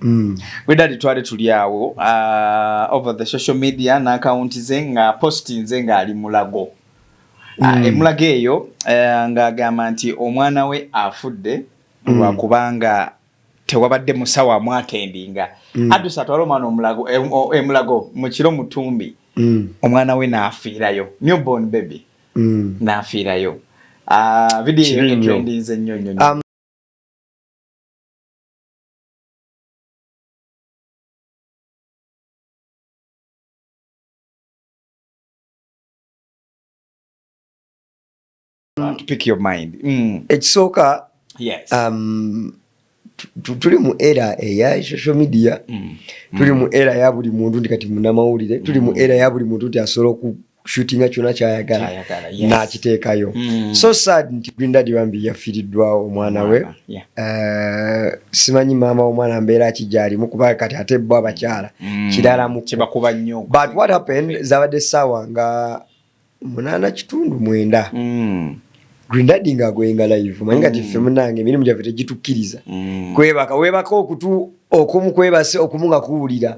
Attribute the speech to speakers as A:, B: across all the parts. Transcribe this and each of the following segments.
A: Mm. Wedali twali tuli awo uh, over the social media n'akawunti ze nga postinze ng'ali mulago ah, mm. uh, emulago eyo uh, ng'agamba nti omwana we afudde mm. lwakubanga tewabadde musawo amwatendinga mm. adusa atwala omwana omulago emulago e, e mu kiro mutumbi mm. omwana we n'afiirayo newborn baby mm. n'afiirayo uh, vidiyo eyo etrendinze nnyo nnyo um, pick your mind mm. ekisooka yes. um,
B: tuli mu era eya social media mm. tuli mu era ya buli muntu nti kati munamawulire tuli mu mm. era ya buli muntu nti asobola shootinga kyona kyayagala nakiteekayo mm. so sad nti green dad bambi yafiiriddwawo omwana we eh, simanyi maama womwana mbeera ki gyalimu kuba kati ate bo abakyala mm. kiralamukibakuba nnyo but
A: what happened
B: zabadde saawa nga munaana kitundu mwenda mm. Grindadi nga agoyenga live manyi kati ffe mm. munange emirimu gyaffe tegitukkiriza mm. kwebaka webaka okutu okumu kwebase okumu nga kuwulira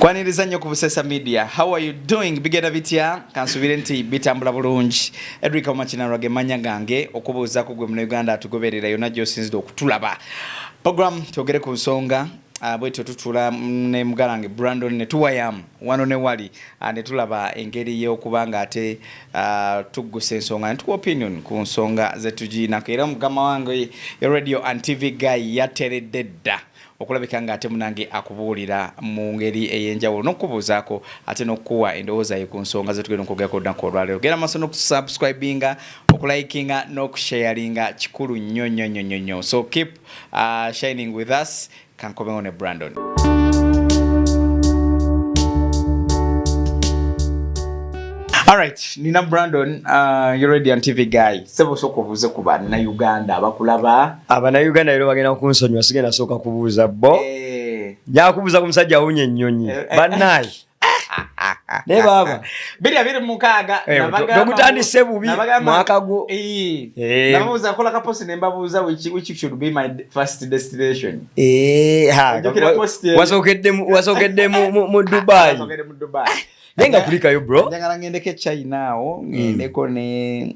A: kwaniriza nnyo ku busesa media how are you doing bigenda bitya kansubire nti bitambula bulungi edric omakinalwa ge manya gange okubuuza ku gwe muna uganda atugoberera yonna gyosinzidde okutulaba program twogere ku nsonga ah, bwetyo tutula ne mugalange brandon netuwayamu wano ne wali ne tulaba engeri y'okuba nga ate tuggusa ensonga ne tuwa opinion ku nsonga ze tugiinako era mugama wange ye radio and TV guy yateredde dda okulabika nga ate munange akubuulira mu ngeri ey'enjawulo n'okukubuuzaako ate n'okukuwa endowooza ye ku nsonga ze tugenda okwogerako olunaku olwaleero genda maaso n'okusubscribinga okulikinga n'okusharinga kikulu nnyo nnyo nnyo nnyo nnyo so keep uh, shining with us Kankomewo ne Brandon. Alright, nina Brandon, uh, you're ready on TV guy. Sebo soko buze kuba na Uganda, abakulaba. Aba na Uganda yero
B: bagena kunsonyo, sigena soka kubuza bo. Eh. Hey. Nyakubuza kumusajja unye nyonyi. Hey. Eh, eh. Banai. naye baaba biri abiri mukaaga
A: eh, nogutandise
B: bubi mwaka gwo eh. nababuuza
A: kola kaposi nembabuuza which should be my first destination eh,
B: wasookedde mu dubai naye nga kulikayo bro njagala ngendeko echina
A: awo hmm. ngendeko ne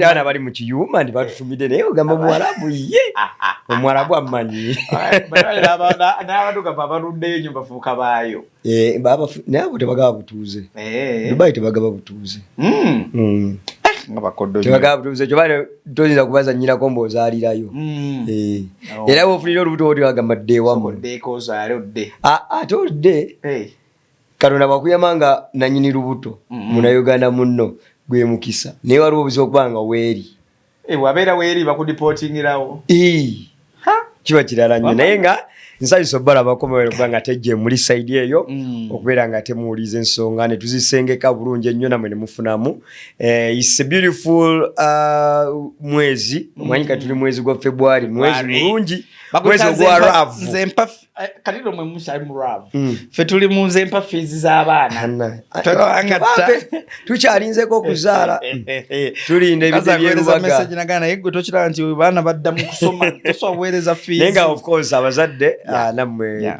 A: abaana bali mu kiyuma
B: ndi batutumidde naye ogamba omuwarabu ye omuwarabu amanyi n'abadugavu
A: abaluddeyo nyo bafuuka baayo eh,
B: naye abo tebagaba butuuze eh. dubai tebagaba butuuze
A: hmm. Hmm. Eh,
B: toyinza kubaza nyinako mbaozalirayo hmm. oh. era wofunire olubuto woti agamba ddewamu
A: ate odde
B: Katonda bwakuyama nga nanyini lubuto munayuganda munno gwe mukisa naye waliwo obuzibu okuba nga weeri eh, wabeera
A: weeri bakudipotingirawo
B: kiba kirala nnyo naye nga nsanyusa obalabako mubere kuba nga tejje muli saidi eyo mm. okubeera nga temuwuliza ensonga netuzisengeka bulungi ennyo namwe nemufunamu eh, is a beautiful uh, mwezi mm. omanyi kati tuli mwezi gwa february mwezi mulungi mwezi ogwa ravu Eh,
A: kati lomwe musayi muramu mm. fe tuli munze mpa fizi za bana
B: tukyalinzeko okuzaala eh, eh, tulinde ebidebyerubagamessage nagana naye gwe
A: tokiraba nti baana badda mu kusoma tosaweereza fizi naye nga of course abazadde
B: ah, nammwe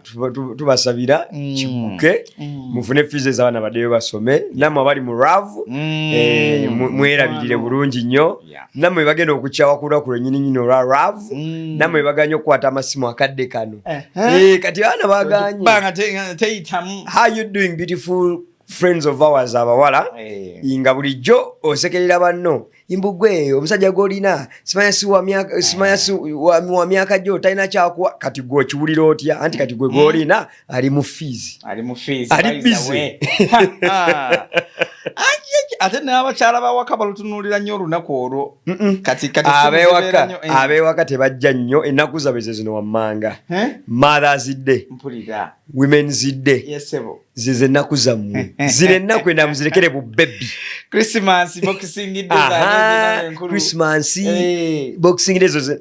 B: tubasabira mm. kikuke mm. mufune fizi ezabaana baddeyo basome nammwe abali mu ravu mwerabirire bulungi nnyo namwe bagenda okukyawa ku lwaku lwenyininyini olwa ravu mm. namwe baganye okukwata amasimu akadde kano eh, eh. Eh, kati abaana baganyeteyitamu friends of ours abawala eh. nga bulijjo osekerera banno imbugwe omusajja gwolina simanya siwamyaka eh. wa myaka gyo talina kyakuwa kati gwe okiwulira otya anti kati gwe eh. gwolina ali mu fees ali mu fees ali busy
A: ate n'abakyala bawaka balutunuulira nnyo olunaku olwo kati kati abewaka eh.
B: abewaka tebajja nnyo ennaku zabwe ze zino wammanga mothers day mpulira women's day yesebo zize ennaku zammwe zino ennaku enamu zirekere bu bebi christmas
A: boxing day
B: christmas eh. boxing day zoze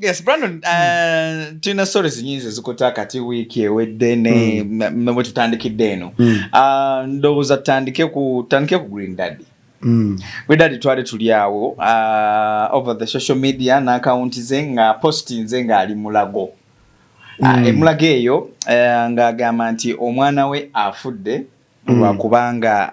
A: yes brandon uh, tulina stories nyingi ezikuta kati wiiki ewedde ne mm. bwetutandikidde eno mm. uh, ndowooza tutandike ku tutandike ku green daddy Mm. wedadi twali tuli awo uh, over the social media naakawunti ze nga postinze ng'ali mulago uh, mm. uh, emulago eyo uh, ng'agamba nti omwana we afudde mm. lwakubanga mm.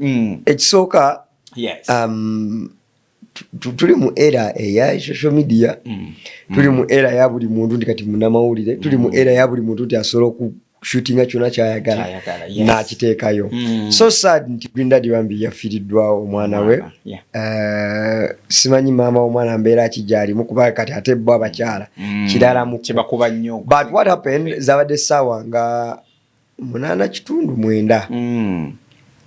A: mm. ekisooka
B: um, tuli mu era eya social media mm. tuli mu era ya buli muntu nti kati munamawulire tuli mu era ya buli muntu nti asobola okushootinga kyona kyayagala nakiteekayo mm. so sad nti grindad bambi yafiiriddwa omwana we uh, simanyi maama womwana mbeera ki gyalimu kuba kati ate bo abakyala kirala mu but
A: what happened
B: zabadde saawa nga munana kitundu mwenda mm.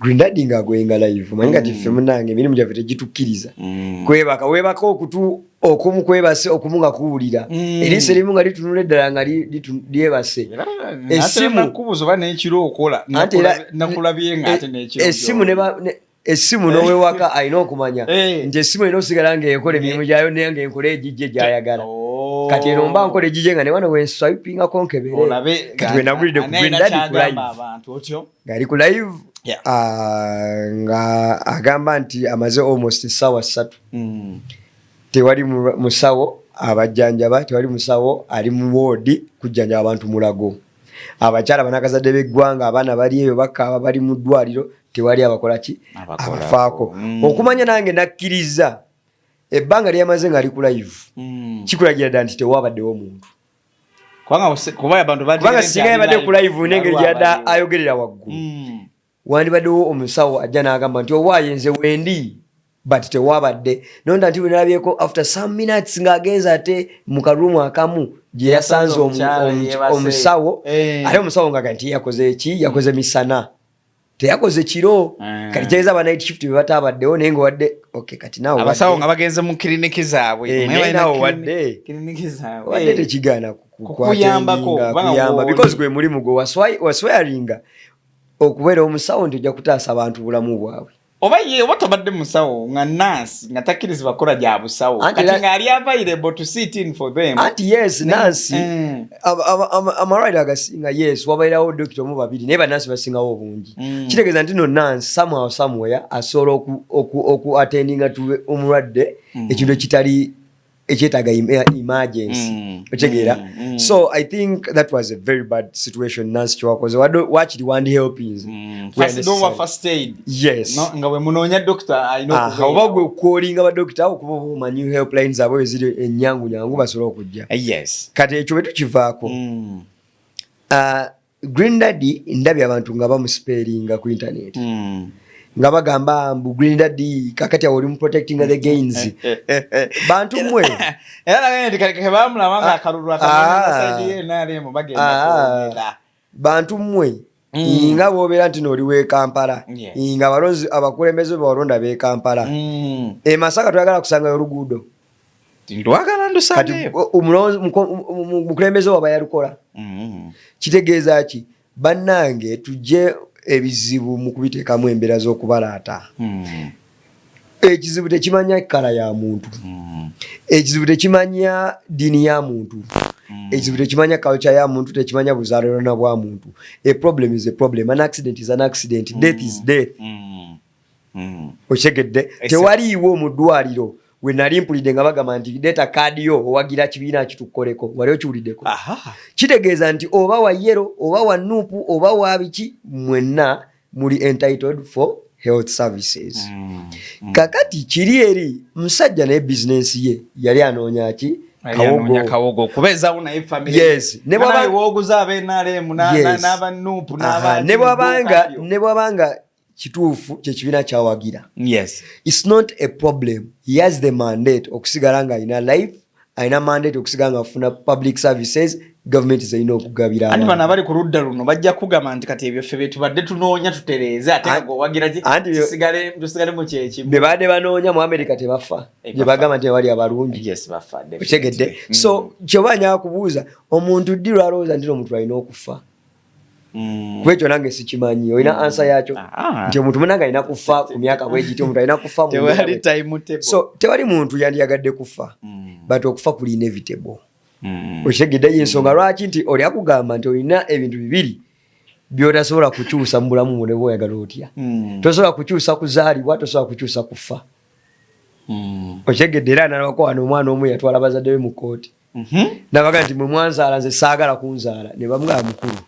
B: grindadi nga agwenga live manyi kati mm. ffe munange emirimu gyaffe tegitukiriza mm. kwebaka webaka okutu okumu kwebase okumu nga kuwulira mm. eriiso erimu nga litunula eddala nga lyebase esimu nakubuza oba nekiro okola nakulabye nga ate nekiro esimu essimu n'owewaka alina okumanya eh. nti essimu erina osigala ng'ekola emirimu eh. gyayo naye ng'enkola egijje gyayagala oh. kati eno mba nkola egijje nga newano wenswipingako nkeberekati wenagulidde ku green dadi ku live ng'ali ku live ah, nga agamba nti amaze almost essaawa ssatu hmm. tewali musawo abajjanjaba tewali musawo ali mu woodi kujjanjaba abantu mulago abakyala banakazadde b'eggwanga abaana bali eyo bakaaba bali mu ddwaliro tewali abakola ki abafaako mm. okumanya nange nakkiriza ebbanga lyeyamaze nga ali ku live mm. kikulagira dda nti tewabaddewo omuntu kubanga singa yabadde ku live nengeri gyada ayogerera waggulu mm. wandibaddewo omusawo ajja n'agamba nti owaaye nze wendi but tewabadde nonda nti wenalabyeko after some minutes ng'agenza ate mu karumu akamu gye yasanze omusawo eh. ate omusawo ngaaga nti yakoze ki yakoze misana teyakoze kiro eh. kati kyeza aba night shift bebatabaddewo naye ngaowadde ok kati naweabasawo nga bagenze mu
A: kiriniki zaabwe eh, naye nawewadde
B: wadde eh. tekigaana kukuyambakokuyamba because gwe mulimu gwe waswayaringa okubeera omusawo nti ojja kutaasa abantu bulamu bwabwe oba ye oba tobadde
A: musawo nga nansi nga takkirizibwa kukola gya busawo kati nga ali available to sit in for them anti yes nansi
B: mm. amalwaliro agasinga yes wabairawo dokita omu babiri naye banansi basingawo obungi mm. kitegeeza nti no nansi somehow somewhere asobola oku attendinga tu omulwadde mm. ekintu ekitali ekyetaaga eh, emergency mm, okitegeera mm, mm. so i think that was a very bad situation nansi kyewakoze wakiri wandi helpingsinga wemunoonya
A: doktooba gwe kwolinga
B: badokita okuba omanyi helpline zaabwe eziri enyangu nyangu basobola okujja eh, kati ekyo
A: bwe tukivaako
B: ah, Green Daddy ndabye abantu nga bamusipeeringa ku internet mm. nga bagamba mbu Green Daddy kakati awo oli mu protecting the gains bantu mwe era nabene nti kale
A: kebamulaba nga ah, akalulu akalulu ah. bagenda ah. bantu
B: mwe Mm. nga bwobeera nti nooli wekampala nga abalonzi abakulembeze bewalonda bekampala mm. emasaka eh, twagala kusangayo oluguudo ndwagala
A: ndusangeyo omukulembeze
B: waba yalukola mm-hmm. kitegeeza ki bannange tujje ebizibu mu kubiteekamu embeera z'okubalaata mm-hmm. ekizibu tekimanya ekkala ya muntu mm-hmm. ekizibu tekimanya ddiini ya muntu Mm. ekizibu tekimanya culture ya muntu tekimanya buzalirana bwa muntu a problem is a problem an accident is an accident mm. death is mm. death mm. mm. okitegedde tewaliiwo mu ddwaliro we nali mpulidde nga bagamba nti deeta kaadi yo owagira kibiina kitukoleko wali okiwuliddeko kitegeeza nti oba wa yero oba wa nuupu oba wa biki mwenna muli entitled for health services mm, mm. kakati kiri eri musajja naye bizinensi ye yali anoonya ki kawogo
A: okubeezawo naye familyewooguza
B: abenaleemu n'abanuupu n'abantu ne bwabanga kituufu kyekibiina kyawagira yes. its not a problem he has the mandate okusigala nga alina life alina mandate okusigala nga afuna public services gavumenti zirina okugabira anti bano abali ku ludda
A: luno bajja kugamba nti kati ebyo ffe betubadde tunoonya tutereeze ate owagirakitusigalemu kyekimu be baadde banoonya mu
B: amerika tebafa eh, bye bagamba nti bali abalungi otegedde so mm. kyoba nyakubuuza omuntu ddi lwalowooza nti no omuntu alina okufa kuba ekyo nange sikimanyi olina mm. ansa yakyo ah, ah. nti omuntu munange alina kufa ku myaka bwegiti omuntu alina kufa so tewali muntu yandiyagadde kufa mm. but okufa kuli inevitable mm. okitegedde yensonga lwaki nti oli akugamba nti olina ebintu bibiri byotasobola kukyusa mu bulamu bwo neba oyagala otya tosobola kukyusa kuzaalibwa tosobola kukyusa kufa okitegedde era nalwako wano omwana omu yatwala bazadde be mu kooti Mhm. nabaga nti mwe mwanzaala nze saagala kunzaala ne bamwaa mukulu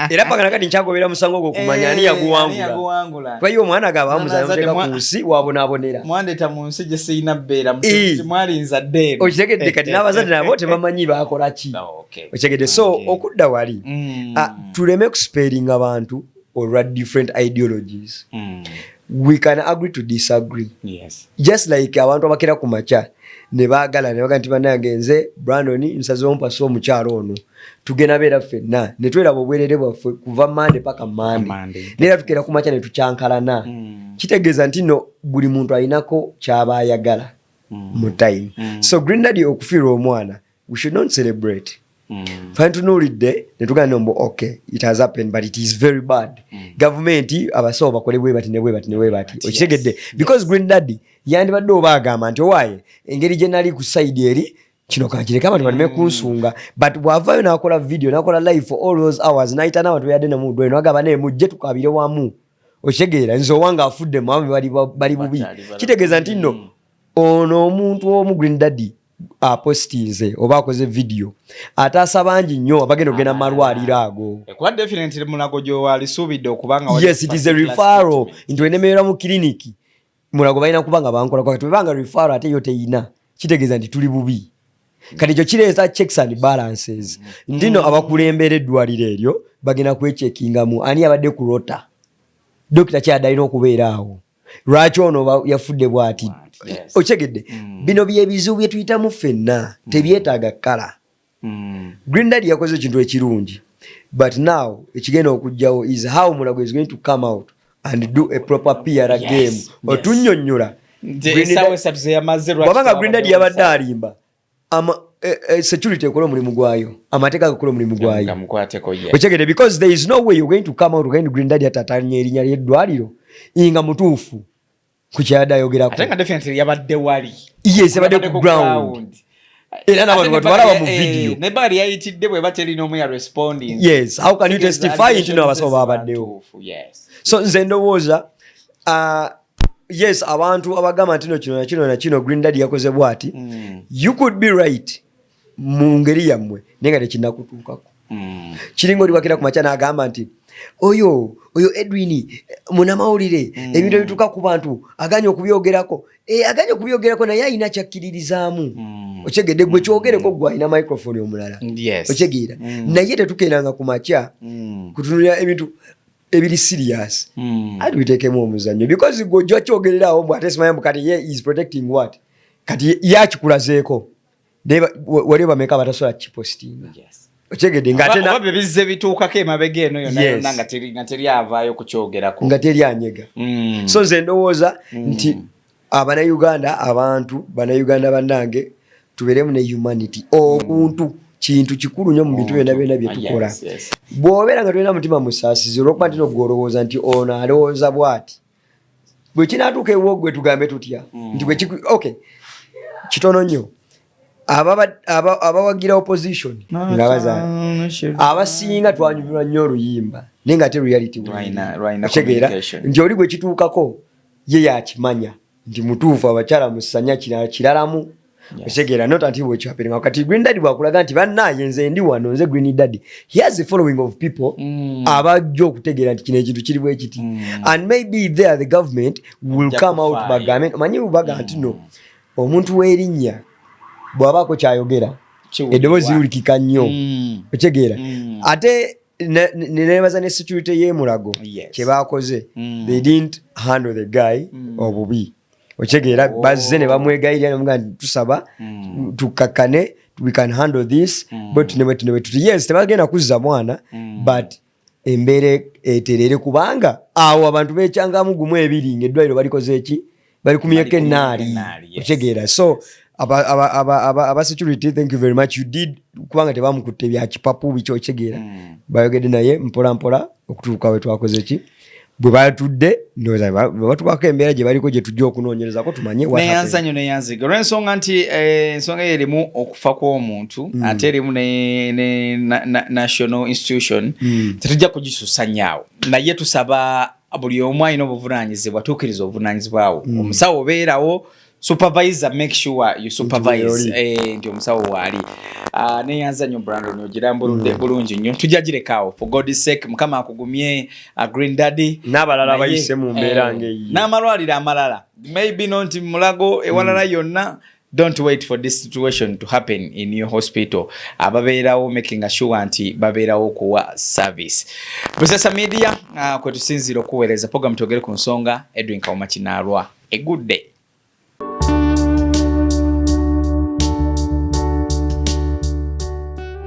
B: era paka nakati nkyagobera musango ogwo okumanya ani eh, yaguwangula kuba ye omwana gaba bamuzaalamuteeka ku nsi wabonaabonera mwandeta mu nsi gye
A: sirina bbeera mwali nzadde okitegedde kati n'abazadde
B: nabo tebamanyi bakola ki ah, okitegedde so okudda wali mm. ah, tuleme kusipeeringa bantu olwa different ideologies mm. we can agree to disagree yes. just like abantu abakera ku makya nebagala nebaga nti banange nze brandon nsazewo mpasa omukyalo ono tugenda beera ffenna netweraba obwerere bwaffe kuva mande paka mande neera tukera ku makya netukyankalana mm. kitegeeza nti no buli muntu alinako kyaba ayagala mm. mu time mm. so green dadi okufiirwa omwana we should not celebrate mm. fine tunuulidde netugana mbu okay it has happened but it is very bad mm. gavumenti abasawo bakole bwebati nebwebati nebwebati okitegedde yes. because yes. green daddy yandibadde oba agamba nti owaaye engeri gye nali ku saidi eri kino kankireka abantu baleme mm. kunsonga but bwavayo nakola video nakola live for all those hours nayita n'abantu beyadde nemudweno agamba naye mujje tukabire wamu okitegeera nze owanga afudde mwami bali bubi kitegeeza nti nno mm. ono omuntu omu green daddy apostinze oba akoze vidiyo ataasa bangi nnyo abagenda okugenda mu malwaliro
A: ago yes it is a referral
B: nti wenemerera mu kiriniki mulago balina kuba nga bankola kwakati webanga referral ate yo teyina kitegeeza nti tuli bubi kati ekyo kireeta checks and balances mm. ndino abakulembera eddwaliro eryo bagenda kwekyekingamu ani abadde ku rota dokita kyadalina okubeera awo lwaki ono yafudde bwati okitegedde mm. bino byebizibu byetuyitamu ffenna mm. tebyetaaga kala mm. green dad yakoze ekintu ekirungi but now ekigenda okujjawo is how mulago is going to come out and do a proper pr game otunyonyola wabanga green dad yabadde alimba ama eh, eh, security ekola omulimu gwayo amateeka gakola omulimu gwayo okyegede because there is no way you're going to come out again green daddy atatanya erinya lyeddwaliro inga mutuufu ku kyayadde ayogerako ate nga definitely yabadde
A: wali yes yabadde ku
B: ground era nabantu batwalaba mu eh, video ne bali yayitidde
A: bwe bateli n'omu ya responding yes how can you
B: testify nti no abasawo babaddewo yes so nze ndowooza uh, yes abantu abagamba ntino kino nakino nakino green dad yakoze bwati mm. you could be right mu ngeri yammwe naye nga tekinakutuukako mm. kiringa oliwakira ku makya naagamba nti oyo oyo edwin eh, munamawulire mm. ebintu ebituuka ku bantu aganye okubyogerako e, aganye okubyogerako naye alina kyakkiririzaamu mm. okyegedde gwe kyogereko gwe alina microfoni omulala yes. okyegeera mm. naye tetukeeranga ku makya mm. kutunulira ebintu ebiri serious mm. ati bitekemu omuzanyo because gwe ojja kyogererawo mbu ate simanya mbu kati ye is protecting what kati ye akikulazeeko waliwo bameka abatasobola kipostinga yes. okyegedde ngatebize
A: bituukako emabega eno yonayona nga teri avaayo kukyogerako nga teri anyega
B: mm. so nze ndowooza mm. nti Abanayuganda abantu banayuganda banange tuberemu ne humanity obuntu mm. kintu kikulu nyo mu bintu byona byona byetukola bwobeera nga tolina mutima musasizi olwokuba ntino gwe olowooza nti ono alowooza bwati bwekinatuuka ewo gwe tugambe tutya mm. nti bwekik ok kitono nyo abawagira opposition nga bazaala abasinga twanyumirwa nyo oluyimba naye nga te reality kitegeera nti oli gwekituukako ye yakimanya nti mutuufu abakyala musanya kirala kiralamu okitegera not until what you happening awo kati green daddy bwakulaga nti bannaaye nze ndi wano nze green daddy he has a following of people mm. abajja okutegeera nti kino ekintu kiri bwekiti mm. and maybe there the government will come out bagambe omanyi bubaga mm. nti no omuntu w'erinnya bw'abaako kyayogera eddoboozi liwulikika nnyo mm. okitegera mm. ate nenebaza ne security yemulago kyebakoze mm. they didn't handle the guy mm. obubi okitegeera oh. bazze ne bamwegayirira nemuga nti tusaba mm. tukakkane we can handle this bwetunewetunewetuti yes tebagenda kuzza mwana but embeera eterere kubanga awo abantu becyangamu gumu ebiri ngaeddwaliro balikoze eki bali ku myaka enaali okitegeera so aba security thank you very much you did kubanga tebamukutte bya kipapu biki okitegeera hmm. bayogedde naye mpola mpola okutuuka we twakoze ki bwe batudde batukwako embeera gye baliko gye tujja okunoonyerezako tumanye neyanza nyo neyanziga
A: olw'ensonga nti eh, ensonga eyo erimu okufa kw'omuntu hmm. ate erimu ne national institution hmm. tetujja kugisusanyaawo naye tusaba buli omu alina obuvunanyizibwa tuukiriza obuvunanyizibwa wo mm. omusawo obeerawo supervisor make sure you supervise eh, nti omusawo waali ah, neyanza nyo brandon ogirambuludde mm. bulungi nyo tujja girekawo for god sake mukama akugumye ah, green daddy n'abalala bayise mu
B: mbeera eh, ngaeyi n'amalwaliro amalala
A: maybe nonti mulago ewalala mm. yonna mm. Don't wait for this situation to happen in your hospital. Ababeerawo making sure nti babeerawo kuwa service. Busesa Media uh, kwe tusinziira okuweereza program twogere ku nsonga Edwin Kawuma Kinaalwa. A good day.